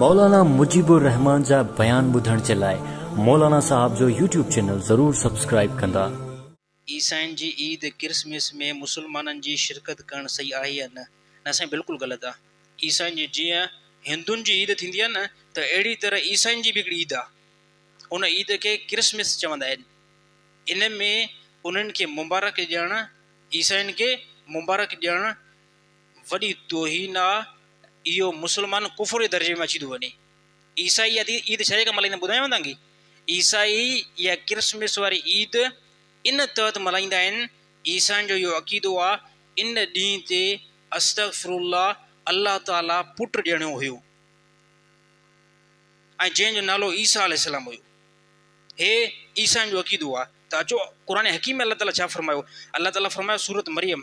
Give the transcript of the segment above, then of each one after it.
مولانا مجيب الرحمان جا بيان ٻڌڻ جي لاء مولانا صاحب جو يوٽيوب چينل ضرور سبسڪرائيب ڪندا. عيسائين جي عيد ڪرسمس ۾ مسلمانن جي شرڪت ڪرڻ صحيح آهي يا نه؟ نه سائين بلڪل غلط آ عيسائين جي جيئن هندن جي عيد ٿيندي آ نه ته اهڙي طرح عيسائين جي به هڪڙي عيد آ ان عيد کي ڪرسمس چوندا آهن ان ۾ انهن کي مبارڪ ڏيڻ عيسائين کي مبارڪ ڏيڻ وڏي توهين آ اهو مسلمان ڪفر جي درجي ۾ اچي ٿو وڃي عيسائي عيد عيد ڇا جي ڪري ملهائيندا ٻڌايانو توهان کي عيسائي اها ڪرسمس واري عيد ان تحت ملهائيندا آهن عيسائين جو اهو عقيدو آ ان ڏينهن تي استغفرالله الله تعالي پٽ ڄڻيو هيو ۽ جنهن جو نالو عيسيٰ عليه السلام هيو هي عيسائين جو عقيدو آ ته اچو قرآن حڪيم ۾ الله تعالي ڇا فرمايو الله تعالي فرمايو سورت مريم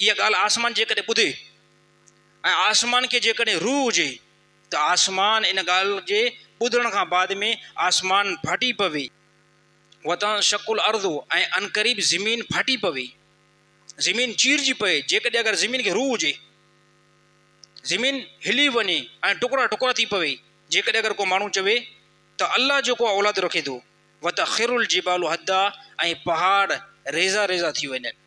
اها ڳالهه آسمان جيڪڏهن ٻڌي ۽ آسمان کي جيڪڏهن روح هجي ته آسمان ان ڳالهه جي ٻڌڻ کان بعد ۾ آسمان ڦاٽي پوي، وتنشق الارض ۽ عنقريب زمين ڦاٽي پوي، زمين چيرجي پئي، جيڪڏهن اگر زمين کي روح هجي، زمين هلي وڃي ۽ ٽڪرا ٽڪرا ٿي پوي، جيڪڏهن اگر ڪو ماڻهو چوي ته الله جو ڪو اولاد رکي ٿو، وتخر الجبال هدا ۽ پهاڙ ريزا ريزا ٿي وڃن.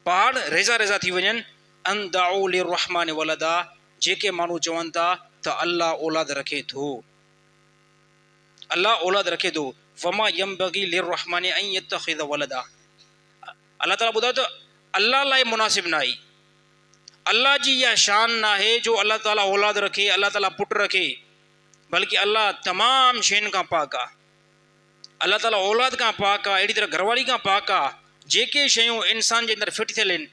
پاڙ ريزا ريزا ٿي وڃن، ان دعوا للرحمٰن ولدا، جيڪي ماڻهو چون ٿا ته الله اولاد رکي ٿو، الله اولاد رکي ٿو، وما ينبغي للرحمٰن ان يتخذ ولدا، الله تعاليٰ ٻڌائي ٿو الله لاء مناسب ناهي، الله جي اها شان ناهي جو الله تعاليٰ اولاد رکي، الله تعاليٰ پٽ رکي، بلڪ الله تمام شين کان پاڪ آ. الله تعاليٰ اولاد کان پاڪ آهي، اهڙي طرح گهرواري کان پاڪ آهي. جيڪي شيون انسان جي اندر فٽ ٿيل آهن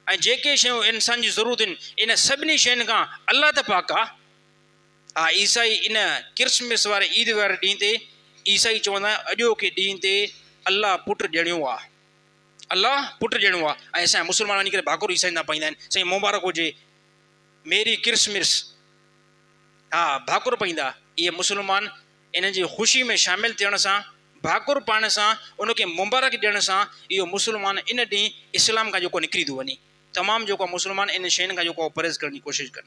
۽ جيڪي شيون انسان جي ضرورت آهن، انهن سڀني شين کان الله ته پاڪ آهي. آء عيسائي ان ڪرسمس واري عيد واري ڏينهن تي عيسائي چوندا آهن اڄوڪي ڏينهن تي الله پٽ ڄڻيو آهي. الله پٽ ڄڻيو آهي ۽ اسان مسلمان وڃي ڪري ڀاڪر عيسائين تان پائيندا آهن سائين مبارڪ هجي ميري ڪرسمس ها ڀاڪر پائيندا اهي مسلمان انهن جي خوشي ۾ شامل ٿيڻ سان، ڀاڪر پائڻ سان، ان کي مبارڪ ڏيڻ سان اهو مسلمان ان ڏينهن اسلام کان جيڪو نڪري ٿو وڃي. تمام جيڪو مسلمان انهن شين کان جيڪو پرهيز ڪرڻ جي ڪوشش ڪن.